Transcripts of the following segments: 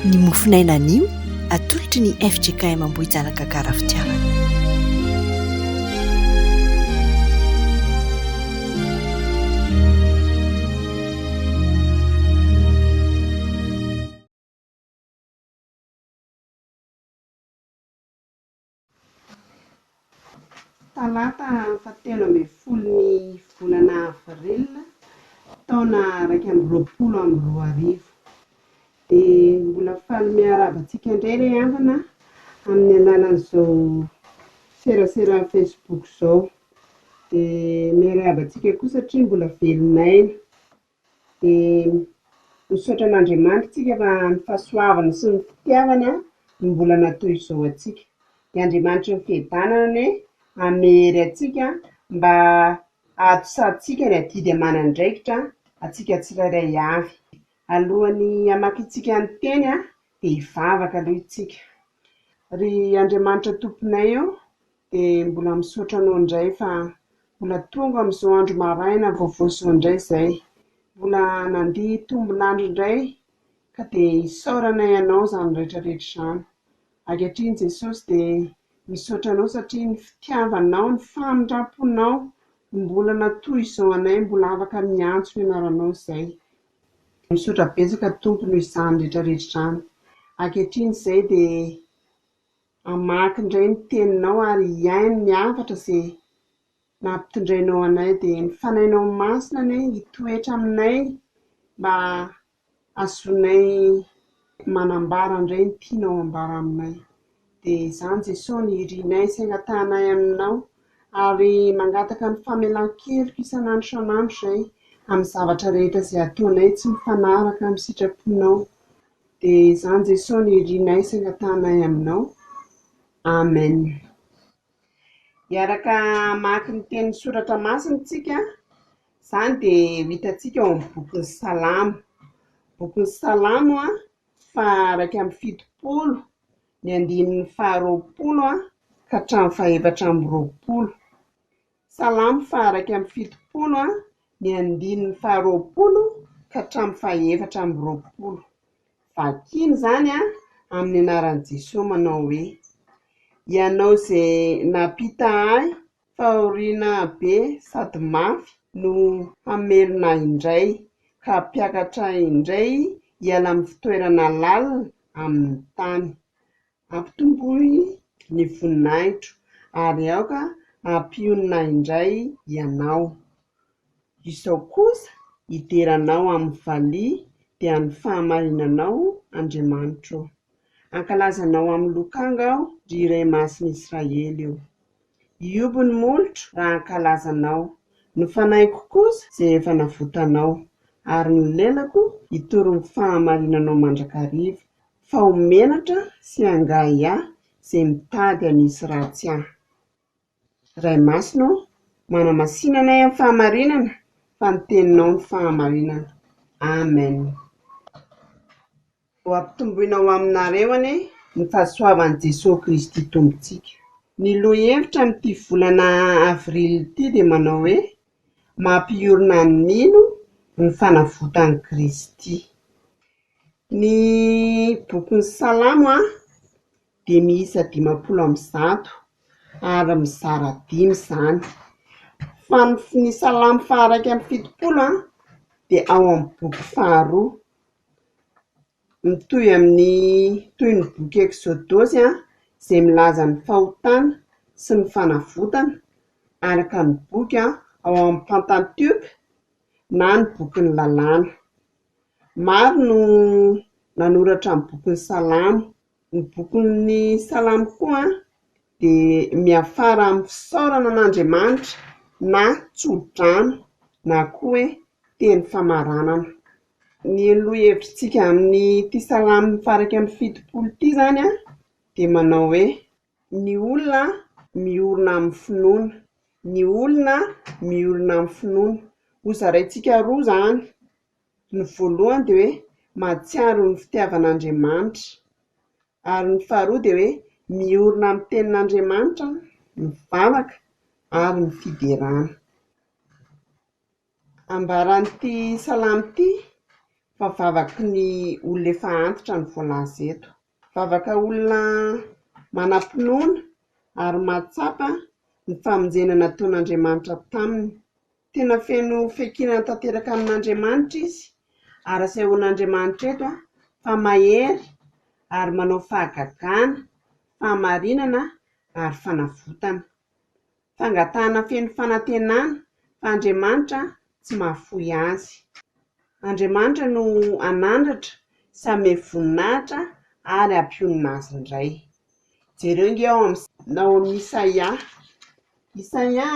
Ny mofon'aina anio atolotry ny fjkm Ambohijanaka Gara Fitiavana. Talata fahatelo ambin'ny folo ny volana avril taona iraika amby roapolo amby roa arivo dia mbola faly miarahaba antsika indray re havana amin'ny alalan'izao serasera facebook izao dia miarahaba antsika koa satria mbola velon'aina Dia misaotra an'Andriamanitra isika fa ny fahasoavany sy ny fitiavany no mbola natao izao antsika. Dia Andriamanitra ny fiadanana anie hanome hery antsika mba hahatosahantsika ny adidy aman'andraikitra antsika tsirairay avy. Alohan'ny hamakintsika ny teny dia hivavaka aloha isika. Ry Andriamanitra Tomponay ô, De mbola misaotra anao indray fa mbola tonga amin'izao andro maraina vaovao izao indray izay. Mbola nandia tombolandry indray ka dia isaoranay anao izany rehetra rehetra izany. Ankehitriny Jesosy dia misaotra anao satria ny fitiavanao, ny famindramponao no mbola natoy izao anay mbola afaka miantso ny anaranao izay. Dia misaotra betsaka Tompo noho izany rehetra rehetra izany. Ankehitriny izay dia Hamaky indray ny teninao ary hihaino ny hafatra izay nampitondrainao anay. Dia ny Fanahinao Masina anie hitoetra aminay mba hahazoanay manambara indray ny tianao hambara aminay. Dia izany Jesosy no irinay sy angatahanay aminao ary mangataka ny famelan-keloka isan'andro isan'andro izay amin'ny zavatra rehetra izay ataonay tsy mifanaraka amin'ny sitraponao. Dia izany Jesosy nirinay sy angatahanay aminao. Amen. Hiaraka hamaky ny tenin'ny soratra masina isika, izany dia ho hitantsika ao amin'ny bokin'ny Salamo. Bokin'ny Salamo faha-iraika amby fitopolo, ny andininy faha-roapolo ka hatramin'ny faha-efatra amby roapolo. Salamo faha-iraika amby fitopolo, ny andininy faharoapolo ka hatramin'ny faha-efatra amby roapolo. Vakina izany amin'ny anaran'i Jesoa manao hoe, Ianao izay nampita ahy fahoriana be sady mafy no hamelona ahy indray, ka hampiakatra ahy indray hiala amin'ny fitoerana lalina amin'ny tany. Ampitomboy ny voninahitro, ary aoka hampionona indray Ianao. Izao kosa hidera Anao amin'ny valiha dia ny fahamarinanao, Andriamanitro ô. Hankalaza Anao amin'ny lokanga aho, ry Iray Masin'i Israely ô. Hihoby ny molotro raha hankalaza Anao, ny fanahinko kosa izay efa navotanao, ary ny lelako hitory ny fahamarinanao mandrakariva, Fa ho menatra sy hangahy ahy izay mitady hanisy ratsy ahy. Ray Masina ô, manamasinana ahy amin'ny fahamarinana, fa ny Teninao no fahamarinana. Amen. Ho ampitomboina ho aminareo anie ny fahasoavan'i Jesoa Kristy Tompontsika. Ny lohahevitra amin'ity volana avril ity dia manao hoe, mampiorina ny mino ny fanavotan'i Kristy. Ny bokin'ny Salamo dia miisa dimampolo amby zato ary mizara dimy izany. Fa ny Salamo faha iraika amby fitopolo dia ao amin'ny boky faharoa. Mitohy amin'ny toy ny boky Eksodosy izay milaza ny fahotana sy ny fanavotana, araka ny boky ao amin'ny Pantatioka na ny Bokin'ny Lalàna. Maro no nanoratra ny Bokin'ny Salamo. Ny bokin'ny Salamo koa dia miafara amin'ny fisaorana an'Andriamanitra na tsodrano na koa hoe teny famaranana. Ny lohahevitrintsika amin'ity Salamo faharaika amby fitopolo ity izany dia manao hoe ny olona miorina amin'ny finoana, ny olona miorina amin'ny finoana. Hozaraintsika roa izany. Ny voalohany dia hoe mahatsiaro ny fitiavana Andriamanitra. Ary ny faharoa dia hoe miorina amin'ny tenin'Andriamanitra ny vavaka ary ny fiderana. Ambaran'ity salamo ity fa vavaky ny olona efa antitra no voalaza eto. Vavaka olona manam-pinoana ary mahatsapa ny famonjena nataon'Andriamanitra taminy. Tena feno fiankinana tanteraka amin'Andriamanitra izy, ary asehoan'Andriamanitra eto fa mahery ary manao fahagagana, fahamarinana ary fanavotana. Fangatahana feno fanantenana fa Andriamanitra tsy mahafoy azy. Andriamanitra no hanandratra sy hanome voninahitra ary hampionona azy indray. Jereo ange ao amin'ny Isaia Isaia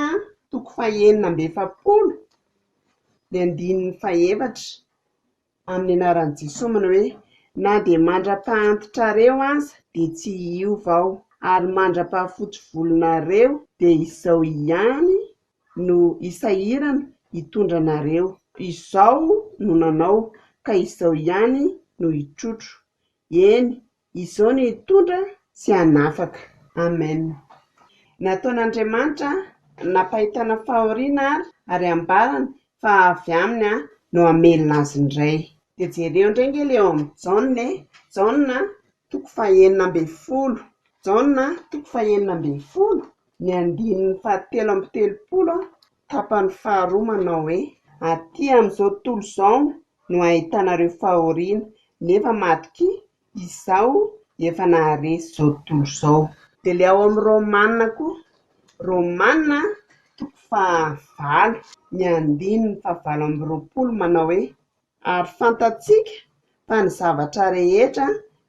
toko fahenina amby efapolo ny andininy fahefatra amin'ny anaran'i Jesoa manao hoe, Na dia mandra-pahantitrareo aza dia tsy hiova aho, ary mandra-pahafotsy volonareo dia izao ihany no hisahirana hitondra anareo, izao no nanao, ka izao ihany no hitrotro, eny, Izao ny hitondra tsy hanafaka. Amen. Nataon'Andriamanitra nampahitana fahoriana ary ary ambarany fa avy aminy no hamelona azy indray. Dia jereo indray nge le ao amin'ny Jaona e, Jaona toko fahenina ambin'ny folo, Jaona toko fahenina ambin'ny folo, ny andininy fahatelo amby telopolo Tapany faharoa manao hoe. Aty amin'izao tontolo izao no ahitanareo fahoriana, nefa matokia, Izaho efa naharesy izao tontolo izao. Dia ilay ao amin'ny Romana koa, Romana toko fahavalo, ny andininy fahavalo amby roapolo manao hoe. Ary fantatsika fa ny zavatra rehetra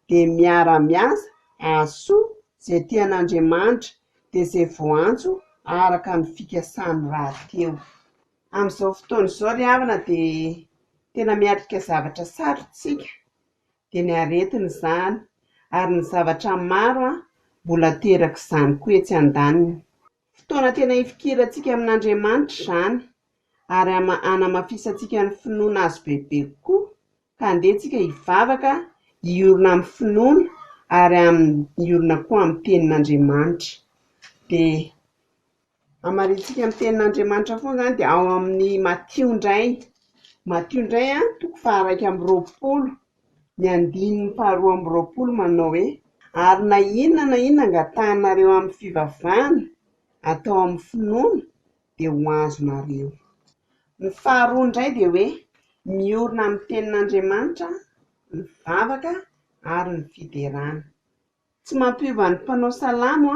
dia miara-miasa ahasoa izay tian'Andriamanitra dia izay voantso araka ny fikasany rahateo. Amin'izao fotoana izao ry havana dia tena miatrika zavatra sarotra isika, dia ny aretina izany ary ny zavatra maro mbola aterak'izany koa etsy andaniny. Fotoana tena hifikirantsika amin'Andriamanitra izany, ary hanamafisantsika ny finoana Azy bebe kokoa. Ka andeha isika hivavaka, hiorina amin'ny finoana, ary hiorina koa amin'ny Tenin'Andriamanitra. Dia hamarinintsika ny Tenin'Andriamanitra foana izany, dia ao amin'ny Matio indray, Matio indray an, toko faha iraika amby roapolo. Ny andininy faharoa amby roapolo manao hoe, Ary na inona na inona angatahanareo amin'ny fivavahana, atao amin'ny finoana, dia ho azonareo. Ny faharoa indray dia hoe, Miorina amin'ny Tenin'Andriamanitra ny vavaka ary ny fiderana. Tsy mampiova ny mpanao salamo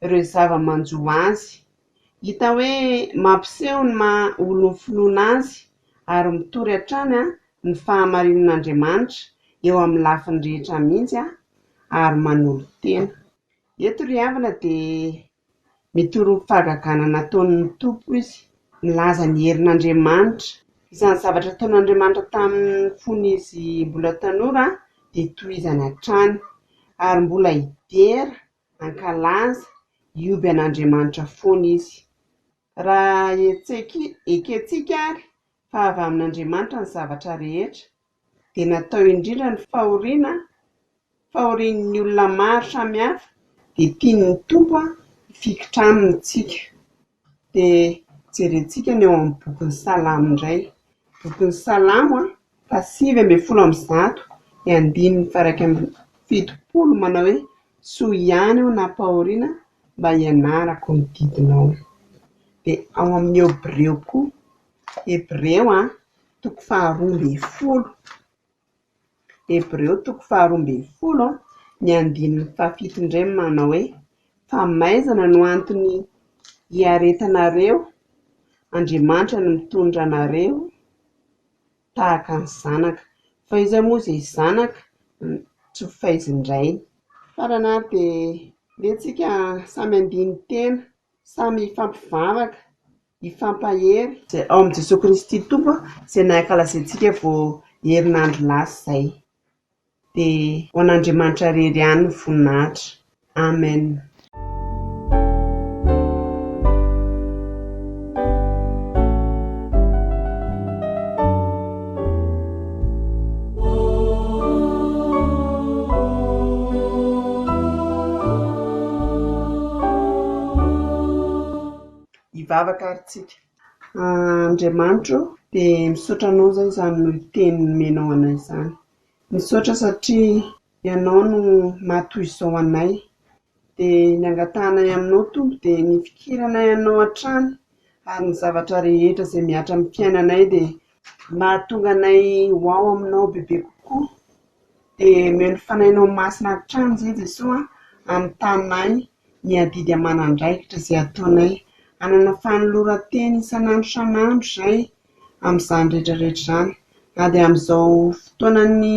ireo zava-manjo azy. Hita hoe mampiseho ny maha olon'ny finoana azy ary mitory hatrany ny fahamarinan'Andriamanitra eo amin'ny lafiny rehetra mihitsy ary manolo-tena. Eto ry havana dia Mitoroky fahagagana nataon' ny Tompo izy, milaza ny herin' Andriamanitra. Izany zavatra nataon' Andriamanitra tamin' ny fony izy mbola tanora dia tohizany hatrany, ary mbola hidera hankalaza hioby an' Andriamanitra foana izy. Raha hetsek' ekentsika ary fa avy amin' Andriamanitra ny zavatra rehetra, dia natao indrindra ny fahoriana fahorian'ny olona maro samihafa dia tian'ny Tompo hifikitra aminy isika dia jerentsika ny ao amin'ny bokin'ny salamo indray bokin'ny salamo faha sivy ambin'ny folo amby zato ny andininy faha iraika amby fitopolo manao hoe soa ihany aho nampahoriana mba hianarako ny didinao dia ao amin'ny hebreo koa Hebreo an, toko faharoa ambin'ny folo, Hebreo toko faharoa ambin'ny folo an, ny andininy fahafito indray manao hoe, Fa maizana no antony hiaretanareo, Andriamanitra no mitondra anareo tahaka ny zanaka, fa iza moa izay zanaka tsy ho faizin-drainy? Farany ary dia, ndeha tsika samy handini-tena, samy hifampivavaka. hifampahery. Izay ao amin'i Jesoa Kristy Tompo izay nankalazaintsika vao herinandro lasa izay. Dia ho an'Andriamanitra irery ihany ny voninahitra. Amen. hivavaka ary tsika. Andriamanitra o, dia misaotra anao zay izany noho ny teny nomenao anay izany. Misaotra satria ianao no maha toy izao anay. Dia ny angatahanay aminao Tompo dia ny hifikiranay anao hatrany ary ny zavatra rehetra izay mihatra amin'ny fiainanay dia mahatonga anay ho ao aminao bebe kokoa. Dia omeo ny fanahinao masina hatrany izay Jesoa a, hanontany ahy ny adidy aman'andraikitra izay ataonay. Hanana fanoloran-teny isan'andro isan'andro izay amin'izany rehetra rehetra izany. Na dia amin'izao fotoanan'ny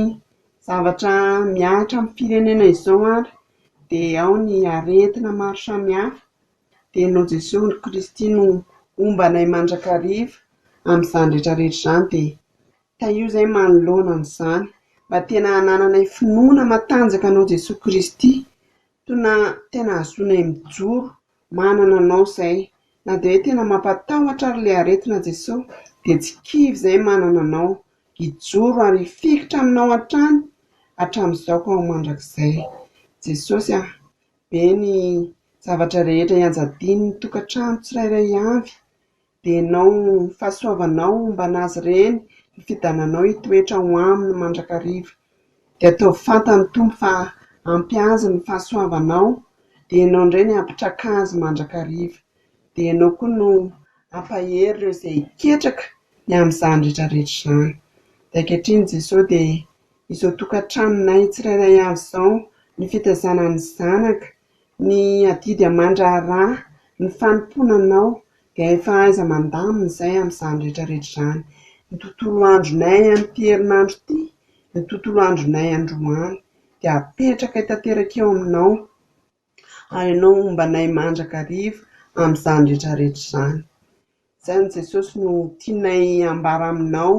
zavatra mihatra amin'ny firenena izao ary dia ao ny aretina maro samihafa dia noho Jesoa Kristy no homba anay mandrakariva amin'izany rehetra rehetra izany dia tahio izay manoloana an'izany mba tena hanananay finoana matanjaka anao Jesoa Kristy Tona tena hahazoanay mijoro manana anao zay na dia hoe tena mampatahotra ary le aretina Jeso dia tsy kivy zay manana anao hijoro ary hifikitra aminao hatrany hatramizao ka ho mandrakizay Jesosy a be ny zavatra rehetra ianjadian'ny tokatrano tsirairay avy Denao ny fahasoavanao homban' azy ireny, ny fidananao hitoetra ho aminy mandrakariva. Dia ataovy fantan'ny Tompo fa ampy azy ny fahasoavanao, dia ianao indray ny hampitraka azy mandrakariva. Dia ianao koa no hampahery ireo izay hiketraka ny amin'izany rehetra rehetra izany. Dia ankehitriny Jesosy dia izao tokantranonay tsirairay avy izao ny fitazana ny zanaka, Ny adidy aman-draharaha, ny fanompoana Anao, dia efa aiza mandamina izay amin'izany rehetra rehetra izany. Ny tontolo andronay amin'ity herinandro ity, ny tontolo andronay androany, dia apetrakay tanteraka eo Aminao, ary Ianao homba anay mandrakariva amin'izany rehetra rehetra izany. Izany Jesosy no tianay ambara aminao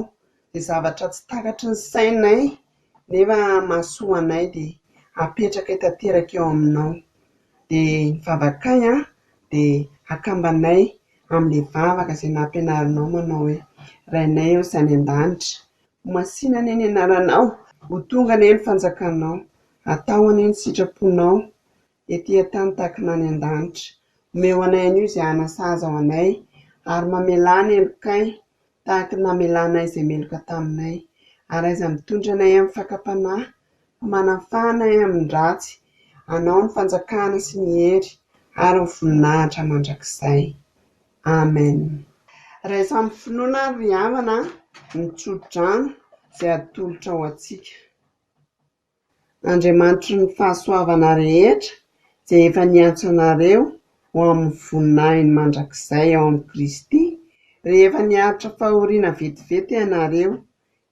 dia zavatra tsy takatry ny sainay nefa mahasoa anay dia apetrakay tanteraka eo aminao dia ny vavakay an dia akambanay amin'ilay vavaka izay nampianarinao manao hoe Rainay ô sy any an-danitra ho masina anie ny anaranao ho tonga anie ny fanjakanao atao anie ny sitraponao ety an-tany tahaka ny any an-danitra. Omeo anay anio izay hanasazy ao anay, ary mamelà ny helokay tahaka ny namelanay izay meloka taminay. Ary aiza mitondra anay amin'ny fakam-panahy, fa manafaha anay amin'ny ratsy. Anao ny fanjakana sy ny hery ary ny voninahitra mandrakizay. Amen. Raiso amin'ny finoana àry ry havana ny tsodrano izay atolotrao antsika. Andriamanitry ny fahasoavana rehetra izay efa niantso anareo ho amin'ny voninahiny mandrakizay ao amin'i Kristy, rehefa niaritra fahoriana vetivety ianareo,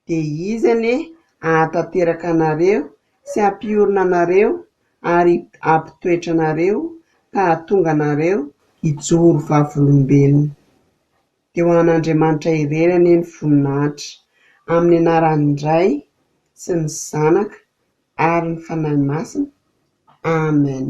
dia Izy anie hahatanteraka anareo sy hampiorina anareo ary hampitoetra anareo ka hahatonga anareo hijoro vavolombelona. dia ho an'Andriamanitra irery anie ny voninahitra, amin'ny anaran'ny Ray sy ny Zanaka ary ny Fanahy Masina. Amen.